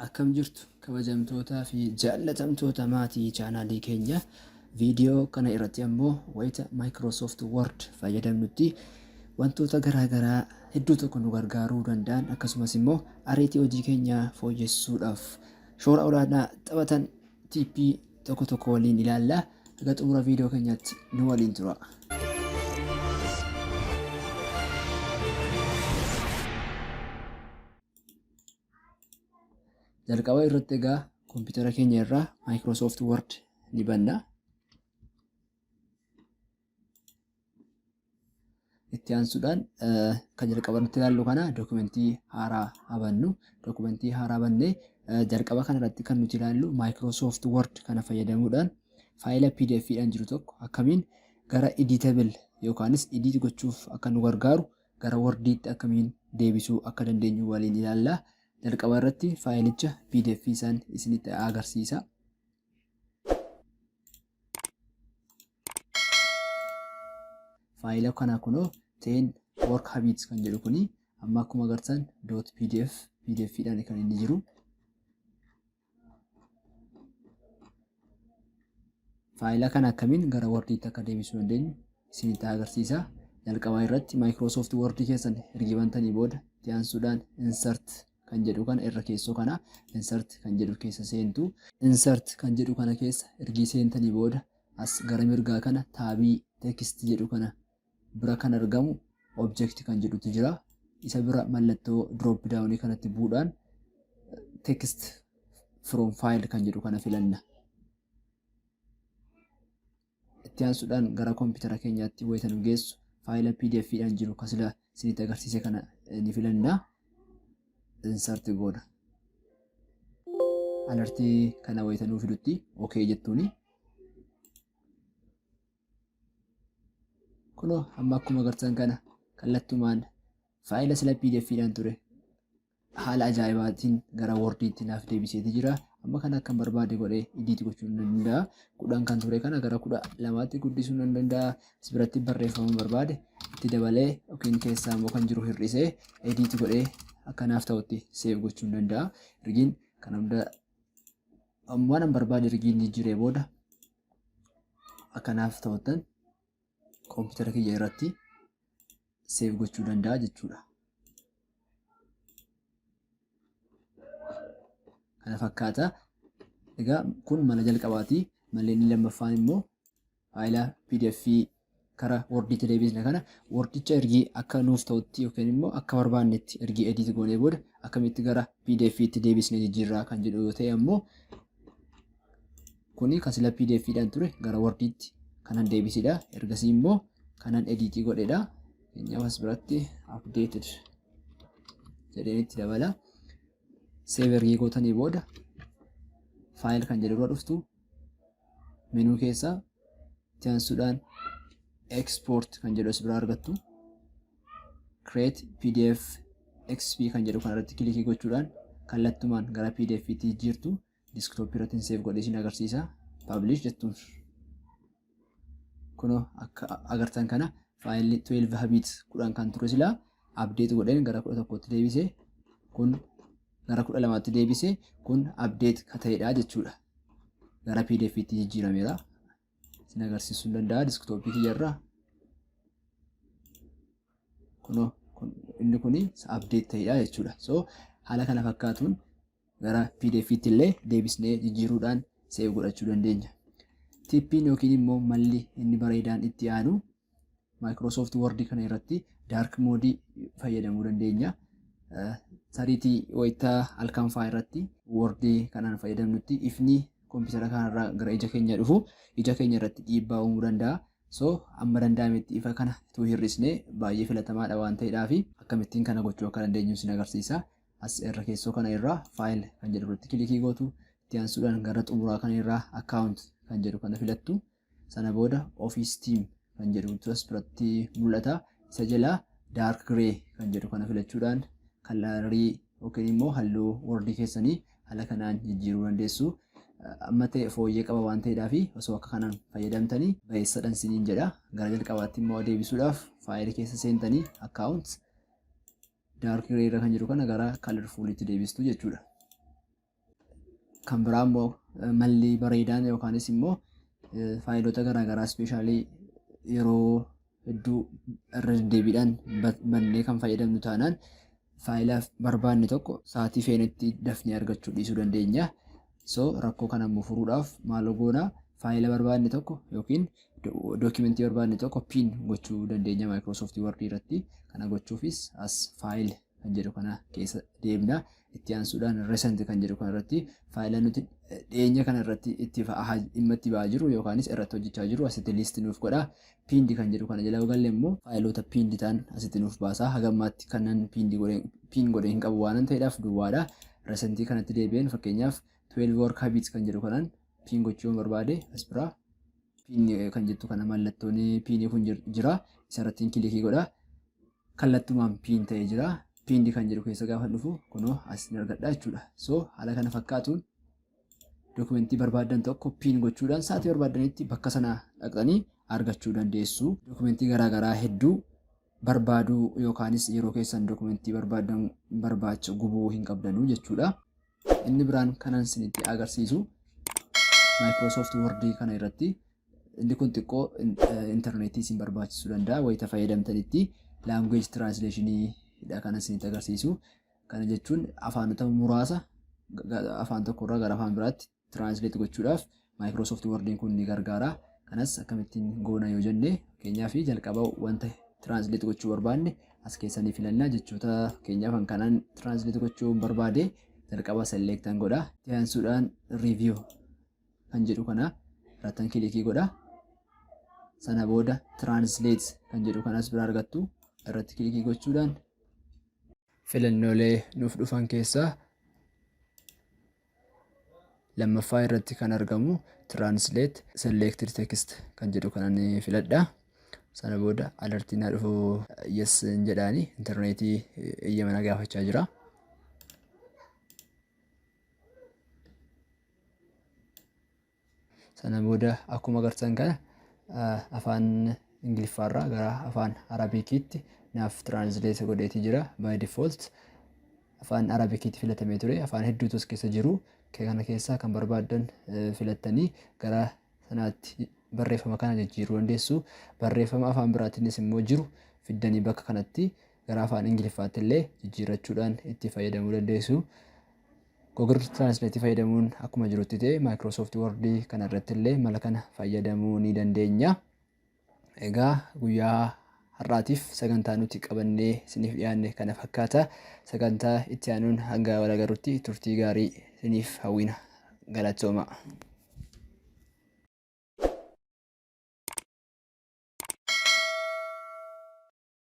Akkam jirtu kabajamtootaa fi jaallatamtoota maatii chaanaalii keenya viidiyoo kana irratti ammoo wayita Microsoft Word fayyadamnutti wantoota garaagaraa hedduu tokko nu gargaaruu danda'an akkasumas immoo ariitii hojii keenya fooyyessuudhaaf shoora olaanaa taphatan tiippii tokko tokko waliin ilaalla. Haga xumura viidiyoo keenyaatti nu waliin tura. jalqaba irratti egaa kompiitara keenya irraa Microsoft Word ni banna. Itti aansuudhaan kan jalqaba irratti ilaallu kana dookumentii haaraa habannu. Dookumentii haaraa bannee jalqaba kana irratti kan nuti ilaallu Microsoft Word kana fayyadamuudhaan faayila PDF dhaan jiru tokko akkamiin gara editable yookaanis edit gochuuf akka nu gargaaru gara wordiitti akkamiin deebisuu akka dandeenyu waliin ilaalla. Jalqaba irratti faayilicha pdf isaan isinitti agarsiisa. Faayila kana kunoo teen work habits kan jedhu kuni amma akkuma agartan dot pdf pdf dhaan kan inni jiru. Faayila kana akkamiin gara Wordiitti akka deebisuu dandeenyu isinitti agarsiisa. Jalqabaa irratti Microsoft Word keessan erga bantanii booda itti aansuudhaan insert kan jedhu kana irra keessoo kana insert kan jedhu keessa seentu. Insert kan jedhu kana keessa erga seentanii booda as gara mirgaa kana taabii text jedhu kana bira kan argamu object kan jedhutu jira. Isa bira mallattoo drop down kanatti bu'uudhaan text from file kan jedhu kana filanna. Itti aansuudhaan gara koompitara keenyaatti wayita nu geessu faayila pdf dhaan jiru kan sila isinitti agarsiise kana ni filanna. Insert goona. Alertii kana wayita nuu fidutti OK jettuuni. kunoo amma akkuma agartan kana kallattumaan faayila sila pdfidhaan ture haala ajaa'ibaatiin gara wordiitti naaf deebiseeti jira amma kana akkan barbaade godhee idiiti gochuu nan danda'a kudhan kan ture kana gara kudha lamaatti guddisuu nan danda'a asibiratti barreeffama barbaade itti dabalee yookiin keessaa immoo kan jiru hir'isee idiiti godhee akka naaf ta'utti seef gochuu nan danda'a rigiin kan hunda waan an barbaade rigiin jijjiiree booda akkanaaf ta'uttan koompitara kiyya irratti seef gochuu danda'a jechuudha. Kana fakkaata. Egaa kun mala jalqabaati. Malleen inni lammaffaan immoo faayila pdf kara wordiitti deebisne kana wordicha ergi akka nuuf ta'utti yookiin immoo akka barbaannetti ergi edit goonee booda akkamitti gara pdf itti deebisne jijjiirraa kan jedhu yoo ta'e ammoo kuni kan sila pdf dhaan ture gara wordiitti kanan deebisidha ergasii immoo kanan edit godhedha keenyaaf as biratti updated jedheen itti dabala save ergii gootanii booda faayil kan jedhu irra dhuftu Menuu keessaa itti aansuudhaan export kan jedhu as biraa argattu. Create PDF XP kan jedhu kan irratti kilikii gochuudhaan kallattumaan gara PDF tti jijjiirtu desktop irratti save godhee isin agarsiisa. Publish jettuun. Kunoo akka agartan kana faayilli 12 habits 10 kan ture silaa update godheen gara 11tti deebise kun gara 12tti deebise kun update ka ta'edha jechuudha. Gara pdf itti jijjiirameera. Isin agarsiisuu hin danda'a diskitooppii kiyyarraa. Kunoo inni kun update ta'edha jechuudha. So haala kana fakkaatuun gara pdf tti illee deebisnee jijjiiruudhaan save godhachuu dandeenya. Tippiin yookiin immoo malli inni bareedaan itti aanu Microsoft Word kana irratti dark mode fayyadamuu dandeenya. Tariitii wayita halkan fa'aa irratti Word kanaan fayyadamnutti ifni kompiitara kanarraa gara ija keenya dhufu ija keenya irratti dhiibbaa uumuu danda'a. So amma danda'ametti ifa kana utuu hir'isne baay'ee filatamaadha waan ta'eedhaafi akkamittiin kana gochuu akka dandeenyu isin agarsiisa. As irra keessoo kana irraa file kan jedhu irratti kilikii gootu. Itti aansuudhaan gara xumuraa kana irraa account kan jedhu kana filattu. Sana booda office team kan jedhutu as biratti mul'ata. Isa jalaa dark grey kan jedhu kana filachuudhaan kalarii yookiin immoo halluu wordii keessanii haala kanaan jijjiiruu dandeessu. Amma ta'e fooyyee qaba waan ta'eedhaa fi osoo akka kanaan fayyadamtanii bayeessadhan siniin jedha. Gara jalqabaatti immoo deebisuudhaaf faayilii keessa seentanii account Dark gray irra kan jiru kana gara colorfulitti deebistu jechuudha. Kan biraa immoo malli bareedaan yookaanis immoo faayilota garaagaraa ispeeshaalii yeroo hedduu irra deddeebiidhaan bannee kan fayyadamnu taanaan faayilaaf barbaanne tokko sa'aatii feenetti dafnee argachuu dhiisuu dandeenya. So rakkoo kana immoo furuudhaaf maaloo goona faayila barbaadne tokko yookiin dookimentii barbaadne tokko pin gochuu dandeenya Microsoft Word irratti kana gochuufis as file kan jedhu kana keessa deemna itti aansuudhaan recent kan jedhu kana irratti faayila nuti dhiyeenya kana irratti itti dhimma itti ba'aa jiru yookaanis irratti hojjechaa jiru asitti list nuuf godha Pinned kan jedhu kana jala yoo galle immoo faayiloota pinned ta'an asitti nuuf baasa. Haga ammaatti kanan pinned godhe pin godhe hin qabu waanan ta'eedhaaf duwwaadha. Recent kanatti deebi'een fakkeenyaaf 12 work habits kan jedhu kanaan pin gochuu yoon barbaade as biraa pin kan jettu kana mallattoon piinii kun jira. Isarrattiin kilikii godha. Kallattumaan pin ta'ee jira. Pinned kan jedhu keessa gaafa dhufu kunoo as ni argadha jechuudha. So haala kana fakkaatuun Dokumentii barbaaddan tokko piin gochuudhaan sa'aatii barbaaddanitti bakka sana dhaqxanii argachuu dandeessu. Dokumentii garaagaraa hedduu barbaaduu yookaanis yeroo keessan dokumentii barbaaddan barbaacha gubuu hin qabdanuu jechuudha. Inni biraan kanan isinitti agarsiisu Microsoft Word kana irratti inni kun xiqqoo intarneetii isin barbaachisuu danda'a wayita fayyadamtanitti language translation dha kanan isinitti agarsiisu. Kana jechuun afaanota muraasa afaan tokko irraa gara afaan biraatti translate gochuudhaaf Microsoft Word'n kun ni gargaara. Kanas akkamittiin goona yoo jenne fakkeenyaaf jalqaba wanta translate gochuu barbaanne as keessa ni filanna jechoota fakkeenyaaf kan kanaan translate gochuu hin barbaade jalqaba select an godha. Itti aansuudhaan review kan jedhu kana irrattan kilikii godha. Sana booda translate kan jedhu kanas bira argattu irratti kilikii gochuudhaan Filannoolee nuuf dhufan keessaa lammaffaa irratti kan argamu Translate Selected Text kan jedhu kanan filadha. Sana booda alertiin na dhufu yes hin jedhaani intarneetii eeyyama na gaafachaa jira. Sana booda akkuma agartan kana afaan Ingiliffaarraa gara afaan Arabikiitti naaf tiraansileeta godheeti jira. By default afaan Arabikiitti filatamee ture. Afaan hedduutu as keessa jiru. Kana keessaa kan barbaaddan filattanii gara sanaatti barreeffama kana jijjiiruu dandeessu. Barreeffama afaan biraatiinis immoo jiru fiddanii bakka kanatti gara afaan Ingiliffaatti illee jijjiirrachuudhaan itti fayyadamuu dandeessu. Google Translate fayyadamuun akkuma jirutti ta'e Microsoft Word kana irratti illee mala kana fayyadamuu ni dandeenya. Egaa guyyaa har'aatiif sagantaa nuti qabannee isiniif dhiyaanne kana fakkaata. Sagantaa itti aanuun hanga wal agarrutti turtii gaarii isiniif hawwina. Galatooma.